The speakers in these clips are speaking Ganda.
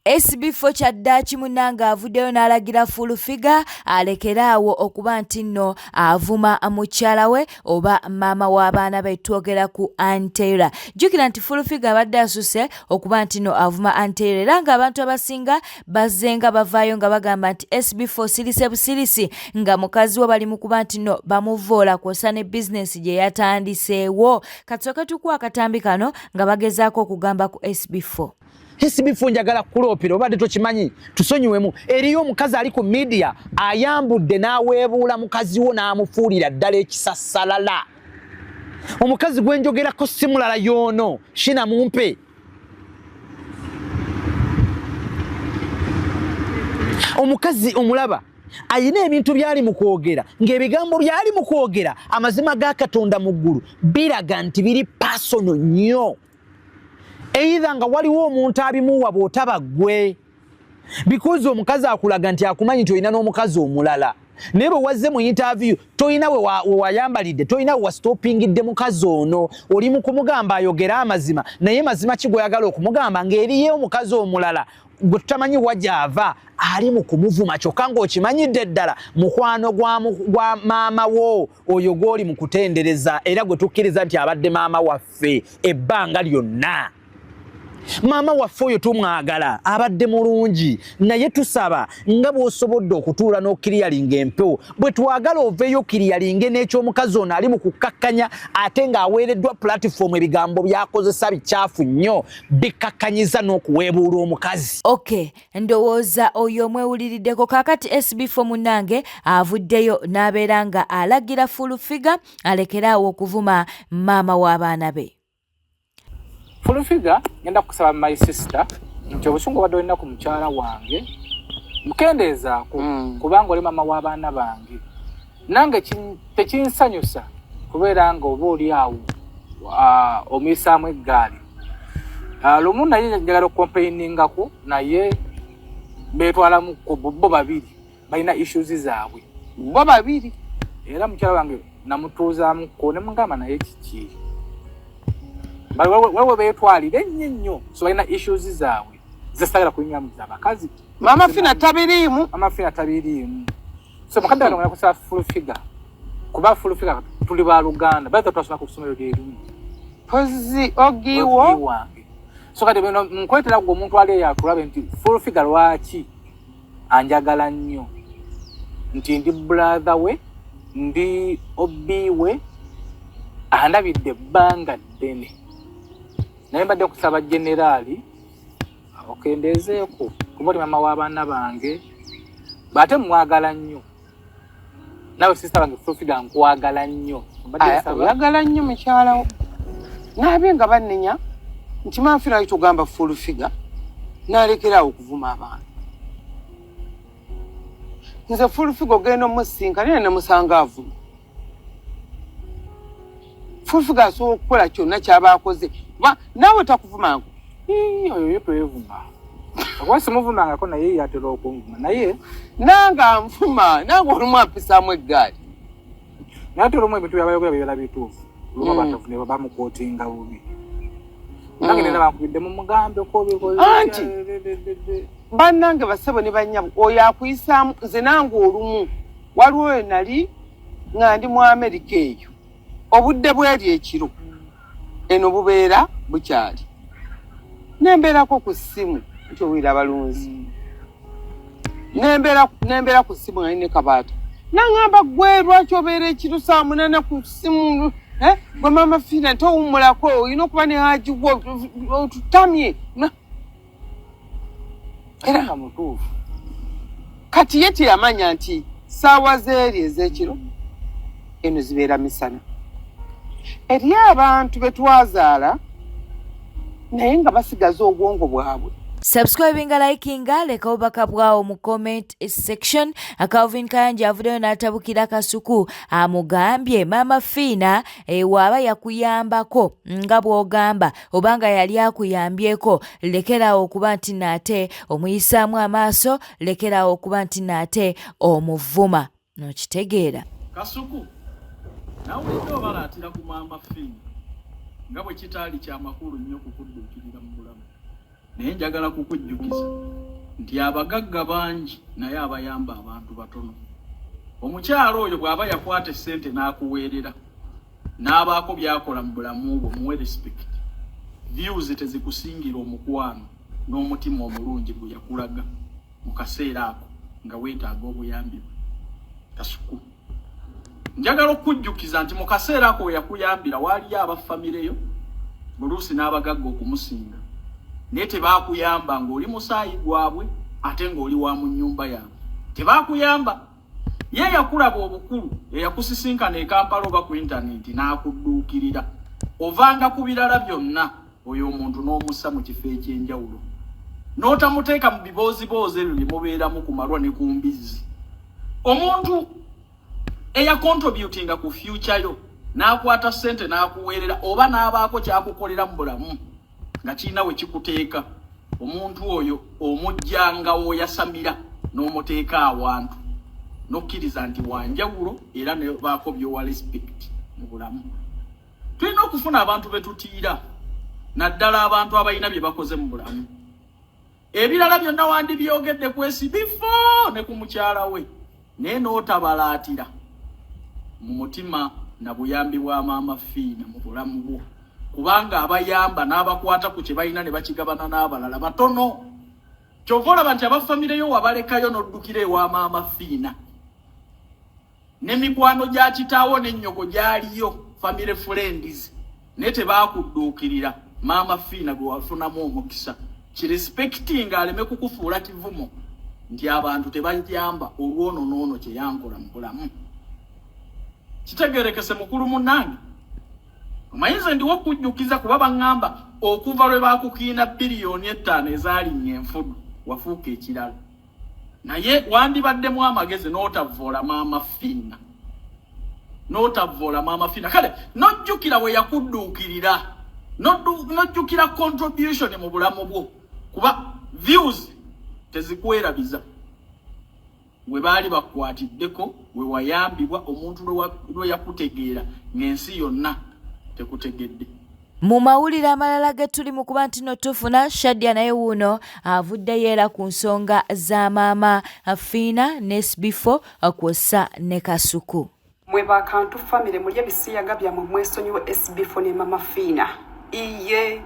Esibifo kya ddaaki munnange avuddeyo n'alagira fulufiga alekere awo okuba nti nno avuma mukyala we oba maama w'abaana be twogera ku antera jjukira nti fulufiga abadde asuse okuba nti nno avuma antera era ng'abantu abasinga bazzenga bavaayo nga bagamba nti sb4 sirise busirisi nga mukazi we bali mu kuba nti nno bamuvvoola kwosa ne bizinensi gye yatandiseewo katusooke tukuwa akatambi kano nga bagezaako okugamba ku sb4 hesibifu njagala kukuloopera obadde tokimanyi tusonyiwemu eriyo omukazi ali ku midiya ayambudde n'aweebuula mukazi wo n'amufuulira ddala ekisasalala omukazi gwe njogerako si mulala yoono shina mumpe omukazi omulaba ayina ebintu byali mu kwogera ng'ebigambo byali mu kwogera amazima ga katonda mu ggulu biraga nti biri pasono nnyo eitha nga waliwo omuntu abimuwa bwotaba gwe because omukazi akulaga nti akumanyi nti olina n'omukazi omulala naye bwe wazze mu interview tolina wewayambalidde tolina wewastopingidde mukazi ono oli mu kumugamba ayogere amazima naye mazima ki gweyagala okumugamba ng'eriye omukazi omulala gwe tutamanyi wajaava ali mu kumuvuma kyokka ng'okimanyidde ddala mukwano gwa maama wo oyo gw'oli mu kutendereza era gwe tukkiriza nti abadde maama waffe ebbanga lyonna maama waffe oyo tumwagala abadde mulungi naye tusaba nga bw'osobodde okutuula n'okiriyalinga empewo bwe twagala oveeyo okiriyalinge n'ekyomukazi ono ali mu kukkakkanya ate ng'aweereddwa pulatifoomu ebigambo by'akozesa bikyafu nnyo bikkakkanyiza n'okuweebuula omukazi okay ndowooza oyo omwewuliriddeko kakati sbfo munange avuddeyo n'abeera nga alagira fulufiga alekere awo okuvuma maama w'abaana be fulufiga ngenda kukusaba my sister nti obusungu obadde olina ku mukyala wange mukendeezaako mm. kubanga oli maama w'abaana bange nange tekinsanyusa kubeera nga oba oli awo omuyisaamu eggaali lumu naye njagala okukompainingako naye betwalamu bo babiri balina issues zaabwe bo babiri era mukyala wange namutuuzamuko nemugamba naye kiki wewe betwalire nnyo nnyo so balina issues zaabwe zesagala kunyumiza abakazi mama fina tabiriimu mama fina tabiriimu so mukadde kano ngakusaba full figure kuba full figure tuli ba luganda baitha twasoma ku kusomero lyerimu pozi ogiwo wange so kati bino nkwetera gwe omuntu ali eyo akulabe nti full figure lwaki anjagala nnyo nti ndi brother we ndi obi we andabidde ebbanga ddene naye mbadde kusaba generaali okendeezeeko kuba oli mama w'abaana bange bwate mwagala nnyo nawe sisita bange fufiga nkwagala nnyo oyagala nnyo mukyalawo naabe nga bannenya nti manfirayo togamba full figure nalekerawo okuvuma abantu nze fulufiga ogenda omusinka naye nemusanga avuma fulufiga asobola okukola kyonna kyaba akoze kuba naawe takuvumangu oyo ye twevuma oba simuvumangako naye yatera okunvuma naye nange anvuma nange olumu ampisaamu eggaali naye ate olumu ebintu byabayogera bibera bituufu luba mm. batofu ne bamukotinga bubi mm. nange nena bankubidde mu mugambe kobianti bannange basebo ne banyabo oyo akuyisaamu nze nange olumu waliwo wenali nga ndi mu amerika eyo obudde bweri ekiro eno bubeera bukyali nembeerako ku ssimu nti owulira abalunzi nembeera ku ssimu nga nine kabaata nangamba gwe lwaki obeera ekiro saa munana ku ssimu eh? gwe mama fiina towummulako olina okuba ne haji gwe otutamye era nga mutuufu kati ye teyamanya nti saawa zeeri ez'ekiro eno zibeera misana eri abantu be twazaala naye nga basigaza obwongo bwabwe subscribinga likinga leka obubaka bwawo mu comment section calvin kayanja avuddeyo n'atabukira kasuku amugambye maama fiina ewaaba eh, yakuyambako nga bw'ogamba obanga yali akuyambyeko lekeraawo okuba nti naate omuyisaamu amaaso lekeraawo okuba nti naate omuvuma nokitegeera kasuku nawulidde obalaatira ku maama fini nga bwe kitaali kyamakulu nnyo kukudduukirira mu bulamu Naye njagala kukujjukiza nti abagagga bangi naye abayamba abantu batono. Omukyalo oyo bw'aba yakwata essente n'akuweerera n'abaako by'akola mu bulamu bwo muwe respect. Views tezikusingira omukwano n'omutima omulungi gwe yakulaga mu kaseera ako nga weetaaga obuyambi bwe. Kasuku. njagala okujjukiza nti mu kaseera ako we yakuyambira waaliyo abaffamireyo buluusi n'abagagga okumusinga naye tebaakuyamba ng'oli musaayi gwabwe ate ng'oli wa mu nnyumba yaabwe tebaakuyamba ye yakulaba obukulu eyakusisinkana ekampala oba ku intanenti n'akudduukirira ovanga ku birala byonna oyo omuntu n'omussa mu kifo eky'enjawulo n'otamuteeka mu bibooziboozi ebyo bye mubeeramu ku malwa ne ku mbizzi omuntu eyakontributinga ku fyuca yo n'akwata ssente n'akuweerera oba n'abaako kyakukolera mu bulamu nga kirina we kikuteeka omuntu oyo omujjanga woyasamira n'omuteeka awantu n'okkiriza nti wanjawulo era nebaako byowa respect mu bulamu tulina okufuna abantu be tutiira naddala abantu abalina bye bakoze mu bulamu ebirala byonna wandibyogedde ku esibifo ne ku mukyala we naye n'otabalaatira mu mutima na buyambi bwa maama fiina mu bulamu bwo kubanga abayamba n'abakwata ku kye balina ne bakigabana n'abalala batono kyova olaba nti abafamireyo wabalekayo n'oddukira ewa maama fiina ne mikwano gya kitaawo ne nnyoko gyaliyo family friends naye tebaakudduukirira maama fiina gwe wafunamu omukisa kirespektinga aleme kukufuula kivumo nti abantu tebajamba olwono noono kyeyankola mu bulamu kitegerekese mukulu munange omanyi nze ndiwo okujjukiza kuba baŋŋamba okuva lwe baakukiina biliyoni ettaano ezaalinya enfudu wafuuka ekirala naye wandibaddemu amagezi n'otavvoola maama fiina n'otavvoola maama fiina kale n'ojjukira we yakudduukirira n'ojjukira contribution mu bulamu bwo kuba views tezikwerabiza we baali bakwatiddeko we wayambibwa omuntu lwe yakutegeera ng'ensi yonna tekutegedde Mu mawulire amalala ge tuli mu kuba nti no tufuna Shadia naye wuuno avuddeyo era ku nsonga za maama Fiina ne Sbifo kwossa ne Kasuku. Mwe ba Kantu famire mulye ebisiyaga byamwe mwesonyiwe Sbifo ne maama Fiina. Iye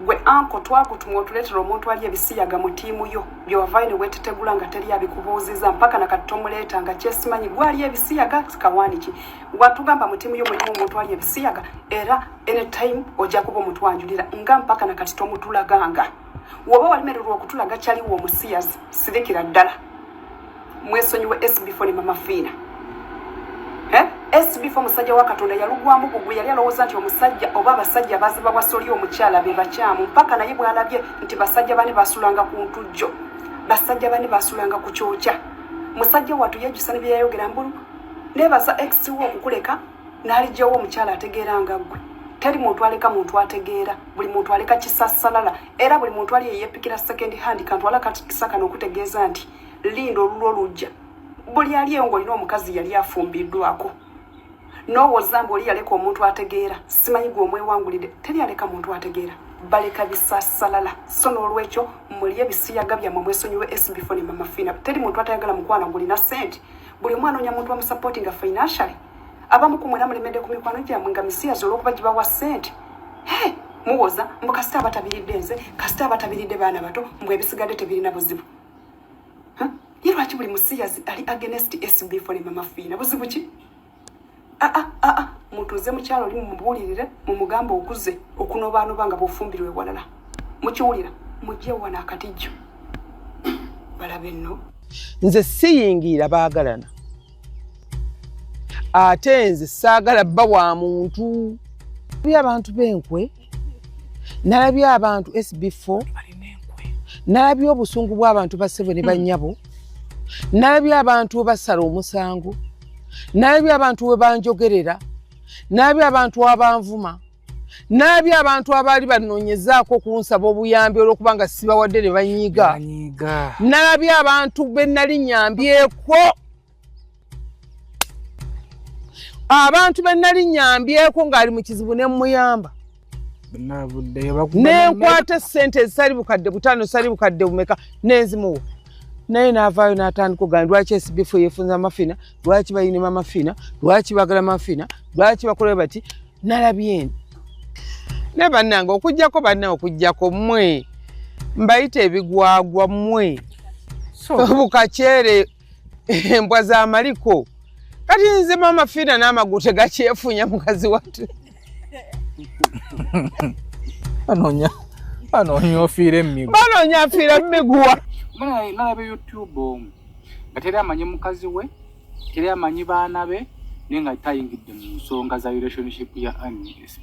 gwe anko twagutumwa otuleetera omuntu ali ebisiyaga mu tiimu yo byewavaayo ne weetetegula nga teri abikubuuziza mpaka na kati tomuleeta nga kyesimanyi gwali ebisiyaga kawaaniki watugamba mutimu yo mulimu omuntu ali ebisiyaga era anytime ojja kuba omutwanjulira nga mpaka na kati tomutulaganga woba walimererwa okutulaga kyaliwo omusiyazi sirikira ddala mwesonyiwe sbfo ne mama fiina eh? sbfo omusajja wa katonda yalugwamu gugu yali alowooza nti omusajja oba abasajja baziba wasoli omukyala be bakyamu mpaka naye bwalabye nti basajja bane basulanga ku ntujjo basajja bane basulanga ku kyokya musajja watu yejjusa ne byeyayogera mbulu nebaza ex wo okukuleka n'alijjawo omukyala ategeera nga ggwe teri muntu aleka muntu ategeera buli muntu aleka kisasalala era buli muntu ali eyepikira second hand kantu ala katikisakana okutegeeza nti linda olulwo olujja buli ali ewo ng'olina omukazi yali afumbiddwako nowoza mbu oli yaleka omuntu ategeera simanyi gwe omwewangulidde teri aleka muntu ategeera baleka bisasalala so n'olwekyo mulye bisiyaga byammwe mwesonyiwe esbifo ne mamafiina teri muntu atayagala mukwano ngulina sente buli omu anoonya muntu bamusupportinga financially abamu ku mwena mulemedde ku mikwano gyamwe nga misiyazi olwokuba gibawa ssente muwoza mbu kasita abatabiridde nze kasita abatabiridde baana bato mbu ebisigadde tebirina buzibu ye lwaki buli musiyazi ali agenest sb fone mama fiina buzibu ki aa ah, aa ah, ah, mutuuze mukyalo oli mumubuulirire mumugamba okuze okunobaanoba nga bufumbirwa ewalala mukiwulira mujje wana akatijjo balabe nno nze siyingiira baagalana ate nze saagala bba wa muntu eri abantu b'enkwe nalabye abantu sb4 nalabye obusungu bw'abantu basebo ne banyabo nalabye abantu webasala omusango nalabye abantu webanjogerera nalabye abantu abanvuma naabi abantu abaali banoonyezaako okunsaba obuyambi olwokuba nga sibawadde ne banyiga naabi abantu be nali nyambyeko abantu be nali nyambyeko ng'ali mu kizibu ne mmuyamba nenkwata esente ezisali bukadde butaano sali bukadde bumeka nenzimuwa naye navaayo natandika ogana lwaki esibifu yefunza amafina lwaki bayinima amafina lwaki bagala mafina lwaki bakola bati nalabyeni ne bannange okujjako banna okujjako mwe mbayita ebigwagwa mwe bukakyere embwa za maliko kati nze mama fiina n'amagulu tegakyefunya mukazi watu anonya anonya ofiira emigu banonya afiira mumiguwa nalabe youtube omu nga teri amanyi mukazi we teri amanyi baana be naye nga tayingidde mu nsonga za relationship ya anism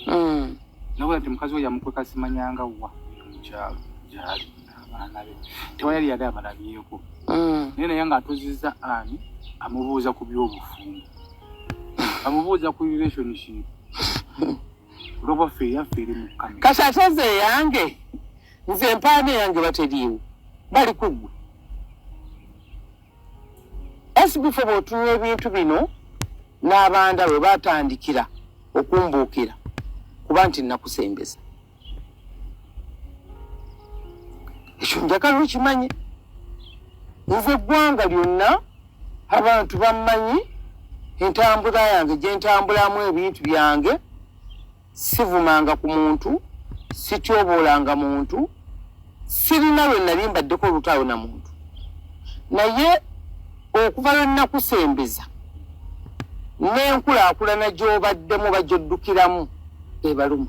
hmm. nawe nti mukazi we yamukweka simanyanga wa mukyalo gyali abaana be tewa yali yali abalabyeko mm. naye naye nga atuziza ani amubuuza ku byobufumbo amubuuza ku relationship olwokuba ffe eyaffe eri mukama kati ate nze eyange nze empaana eyange bateriiwo bali kuggwe esibife bwotunula ebintu bino n'abanda bwe batandikira okumbuukira kuba nti nakusembeza ekyo njagala okimanye nze eggwanga lyonna abantu bammanyi entambula yange gyentambulamu ebintu byange sivumanga ku muntu sityoboolanga muntu sirina lwe nali mbaddeko olutalo na muntu naye okuva lwe nnakusembeza n'enkulaakulana gy'obaddemu bajoddukiramu ebalumu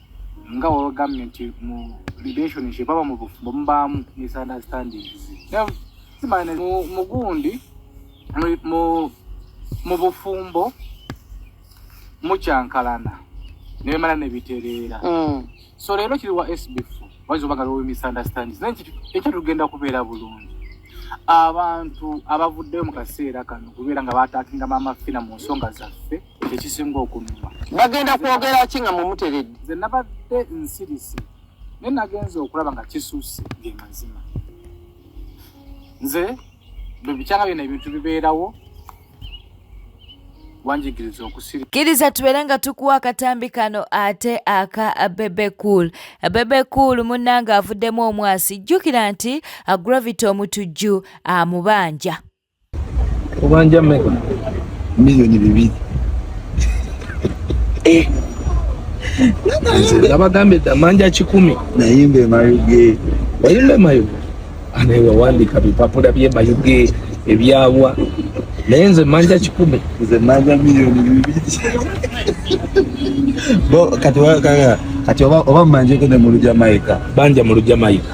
nga wewegambye nti mu relationship aba mu bufumbo mubaamu misunderstandings simane mu gundi mu bufumbo mukyankalana nebimala nebitereera mm. so leero kiri wa sbf wayinza oba nga lowe misunderstandings naye ekyo tugenda kubeera bulungi abantu abavuddeyo mu kaseera kano kubeera nga batakinga maama fina mu nsonga zaffe ekisinga okunuma bagenda kwogera ki nga mumuteredde nze nabadde nsirise naye nagenza okulaba nga kisusse ge mazima nze bwe bikyanga byona ebintu bibeerawo wanjigiriza okusiri kiriza tubeere nga tukuwa akatambi kano ate aka bebe cool bebe cool munnanga avuddemu omwasi jjukira nti gravity omutujju amubanja Ubanja mega. Milioni bibiri. Eh. Nabagambe da manja kikumi. Nayimbe mayuge. Wayimbe mayuge. Anewe wandi kabipapula bye mayuge. Ebyawa. Naye nze manja kikumi. Nze manja milioni bibiri. Bo kati wakanga. Kati oba oba manje kende mulu Jamaica. Banja mulu Jamaica.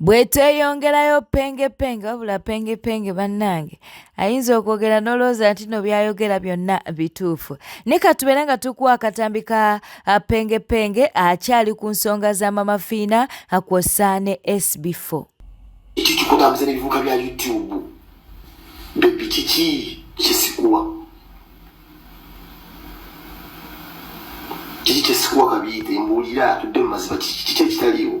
Bwetweyongerayo pengepenge wabula pengepenge bannange ayinza okwogera n'olowooza nti no byayogera byonna bituufu ne katubeera nga tukuwa akatambi ka pengepenge akyali ku nsonga za mama fiina kwossa ne sb4 ekyo kikutambuza n'ebivuka bya youtube bebi kiki kyesikuwa kiki kyesikuwa kabiite mbuulira tudde mu maziba kiki kyekitaliwo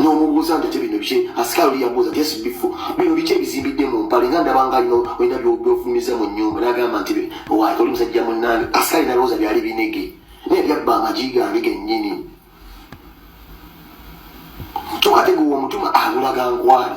nomubuuza nti tebino bye asikaali oli yabuuza nti esibifo bino biki ebizimbidde mu mpale nga ndabanga alina olina byofulumiza mu nyumba nagamba nti owaye oli musajja munange asikaali nalowooza byali binege naye byabba amagi gange gennyini kyokka teguwa omutuma abulaga nkwali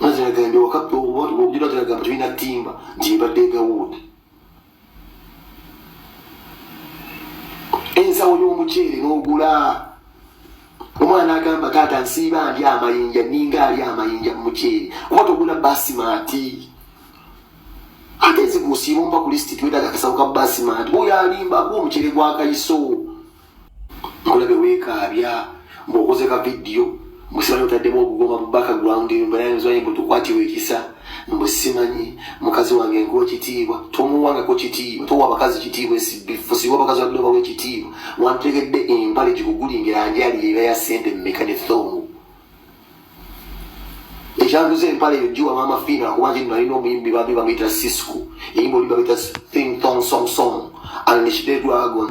maziragambye wakabujula ziragamba tulina timba nti ebadde egawuud ensawo y'omuceere n'ogula omwana agamba taata nsiiba ndi amayinja ninga ali amayinja mu muceere kuba togula basimaati ate nze gusiiba omba ku lisiti twetaga akasawo ka basimaati oyo alimba gwomuceere gwakayiso nkulabe wekaabya mbuokoze ka vidiyo musibani otaddemu okugoma mu background mbenaenzwaye mbu tukwatiwa ekisa mbu simanyi mukazi wange nkuwa ekitiibwa tomuwangako kitiibwa towa abakazi kitiibwa esibifusiwa abakazi wadde obawa ekitiibwa wantegedde empale gikugulingira njali yeba ya sente mumeka ne thongo ekyanguza empale eyo giwa maama fiina kuba nti nalina omuyimbi bambi bamuyita sisco eyimba oli bamuyita thing thong song song unleash the dragon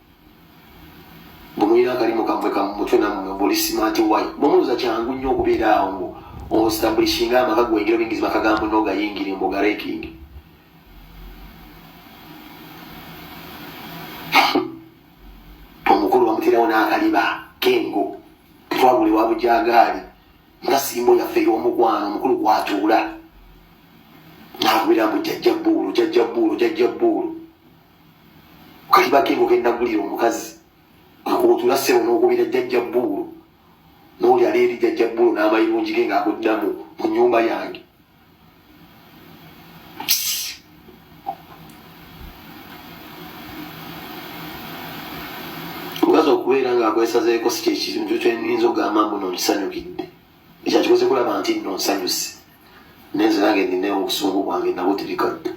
bwemulina akalimu kamwe kamumutwe namwe buli smart way bwemuluza kyangu nnyo okubeera awo ngo ostablishinga amaka gwengera obingizi makagambo nogayingire mbu ogarekinge omukulu bamuterawo n'akaliba kengo tetwagule wa bujagaali nga simbo yaffe ey'omukwano omukulu kwatuula nakubira mbu jajja bbuulu jajja bbuulu jajja bbuulu kali bakengo kenagulira omukazi akubutula sebo nokubira jjajja bbuulu noli ali eri jjajja bbuulu n'amayirungi ge ngaakuddamu mu nyumba yange omukazi okubeera ng'akwesazeeko si kyekintu kyenyinza ogamba mbu nonsanyukidde ekya kikoze kulaba nti nno nsanyuse nenze nange nina obusungu bwange nabo tebikadda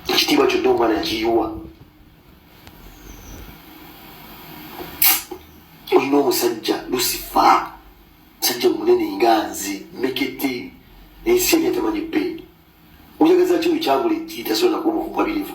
ekitiibwa kyonna omwana yakiyiwa olina omusajja lusifa musajja munene nga nze mekete ensi enya tamanyi peeni oyagazaki oyo kyagula ejjiitasobola nakuba omukukwabirivu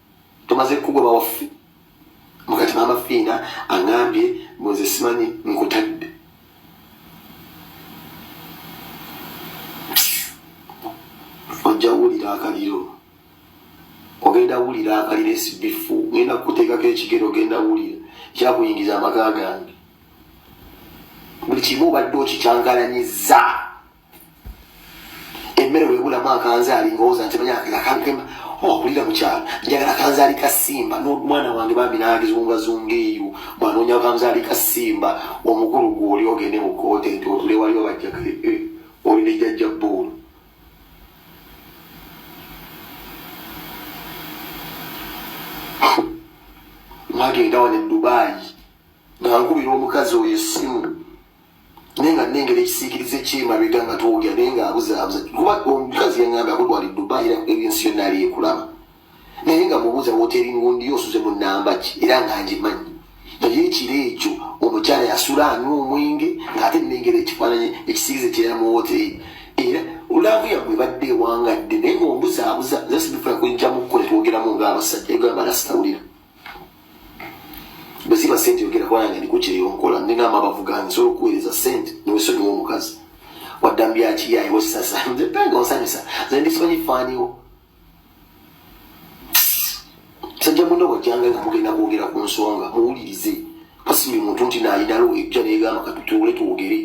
tumaze kugwa bawaffe mukati mama fiina angambye mbuze simanyi nkutadde ojja wulira akaliro ogenda wulira akaliro esibifu ngenda kukuteekako ekigero ogenda wulira kyakuyingiza amaka gange buli kimu obadde okikyangalanyiza emmere webulamu akanzaali ngowooza nti manya akankema okulira oh, mukyalo njagala akanzaali ka simba nomwana wange bambi nange zungazunga eyo bwanoonya akanzaali ka simba omukulu gwoli ogende mu koote nti otule waliwo bajjaka eh, eh, oli ne jajja bbuulu mwagenda wane dubaayi nga nkubira omukazi oyo essimu naye nga nengera ekisiikirize kyemabega nga twogera naye nga abuzaabuza kuba omukazi yangamba akutwali dubai era ebyensi yonna ali ekulaba naye nga mubuuza woteri ngundi osuze mu namba ki era nga ngimanyi naye ekiro ekyo omukyala yasula anywa omwenge ng'ate nengera ekifaananyi ekisiikirize kyera mu woteri era olaavu yammwe badde ewangadde naye nga ombuzaabuza zasibifuna kujjamu kko netwogeramu ng'abasajja egamba nasitawulira bweziba sente yogera kuba nange ndiko kyeyonkola nina amabavu gange nsobola okuweereza sente newesonyiwa omukazi waddambyakiyayewesasanga osanyusa nze ndisimanyi faaniwo sajja muna wajjanga nga mugenda kwogera ku nsonga muwulirize kasi buli muntu nti nayinalo ejja negamba katutuule twogere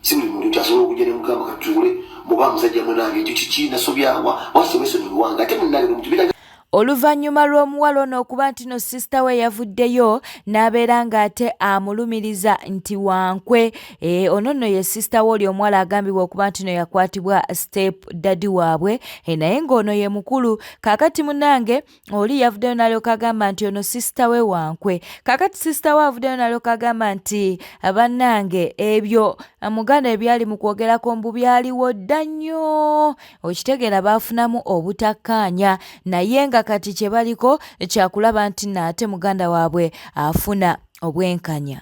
si buli muntu kyasobola okujja ne mugamba katuule muba musajja munange ekyo kiki nasobyawa wasi wesonyiwanga ate munange nomukibira Oluvannyuma lw'omuwala ono okuba nti no sisita we yavuddeyo n'abeera ng'ate amulumiriza nti wankwe eh, ono nno ye sisita we oli omuwala agambibwa okuba nti no yakwatibwa step dadi waabwe eh, naye ng'ono ye mukulu kaakati munange oli yavuddeyo nalyoka agamba nti ono sisita we wankwe kakati sisita we avuddeyo nalyoka agamba nti bannange ebyo muganda ebyali mu kwogerako mbu byaliwo dda nnyo okitegeera baafunamu obutakkaanya naye nga kati kye baliko kyakulaba nti naate muganda waabwe afuna obwenkanya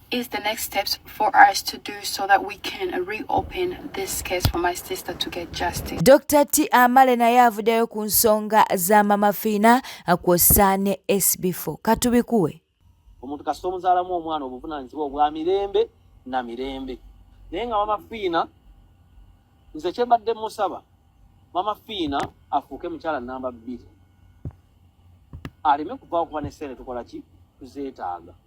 is the next steps for us to do so that we can reopen this case for my sister to get justice. Dr. T Amale naye avuddeyo ku nsonga za Mama Fina kwossa ne SB4 katubikuwe. Omuntu kasita omuzaalamu omwana obuvunaanyizibwa obwa mirembe na mirembe naye nga Mama Fina nze kye mbadde musaba Mama Fina afuuke mukyala namba bbiri aleme kuva okuba ne ssente tukola ki tuzeetaaga.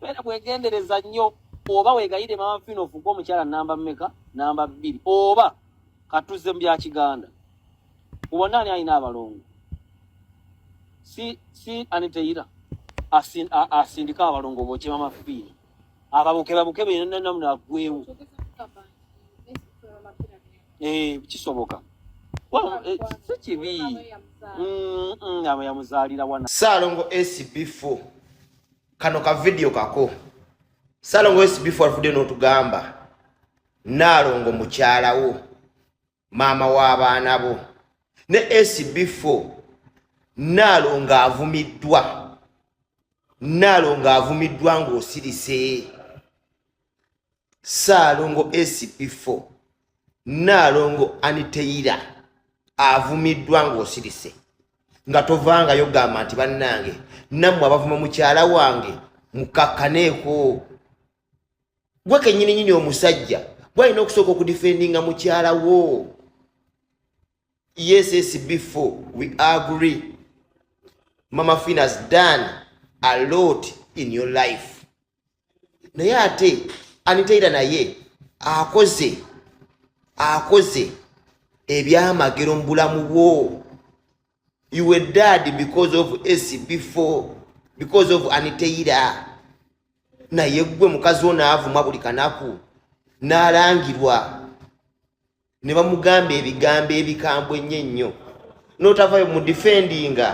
Bera kwegendereza nnyo oba wegayire mama fino ofuke omukyala namba mmeka namba bbiri oba katuze bya kiganda ubona ani alina abalongo si si aniteyira asin asindika abalongo boche mama fino ababuke babuke bena namna agwewo eh kisoboka eh, si kibi mm, mm, abo yamuzalira wana salongo sb4 kano ka video kako salongo wesi before avude notugamba nalongo mukyalawo maama w'abaana bo ne sb4 nalongo avumiddwa nalongo avumiddwa ng'osirise ssaalongo sp4 nnaalongo aniteyira avumiddwa ng'osirise nga tovangayo gamba nti bannange nammwe abavuma mukyala wange mukakkaneeko gwe kennyini nyini omusajja gwalina okusooka okudifendinga mukyala wo yesesbefo we agree mama finas done a lot in your life naye ate anitaira naye akoze akoze ebyamagero mu bulamu bwo you were dad because of acb four because of anitaira naye gwe mukazi wo naavuma buli kanaku naalangirwa ne bamugamba ebigambo ebikambwe ennyo ennyo n'otavayo mu difendinga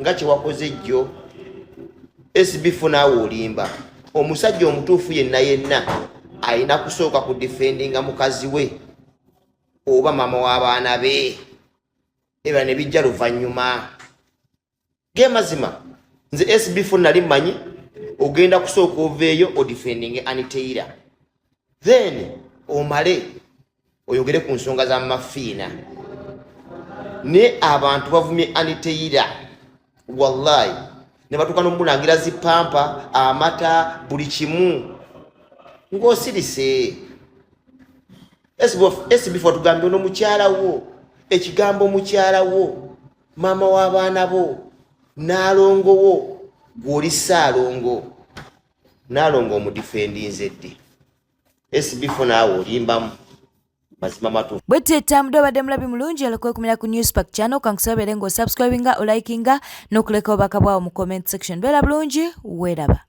nga kyewakoze jjo esibifu naawe olimba omusajja omutuufu yenna yenna alina kusooka ku difendinga mukazi we oba maama w'abaana be ebala ne bijja luvannyuma gemazima nze sbfo nali manyi ogenda kusooka oveeyo odifendinge aniteira then omale oyogere ku nsonga za mafiina naye abantu bavumye aniteira wallahi ne batuuka nomulangira zipampa amata buli kimu ng'osirise sbfo tugambye ono mukyala wo ekigambo mukyala wo maama w'abaana bo naalongo wo gw'oli ssaalongo naalongo omudifendinze ddi esibifo naawe olimbamu mazima matufu bwe tetambudde obadde mulabi mulungi oleka okumira ku news park channel kankusobere nga osubscribinga olikinga n'okuleka obubaka bwawo mu comment section beera bulungi weeraba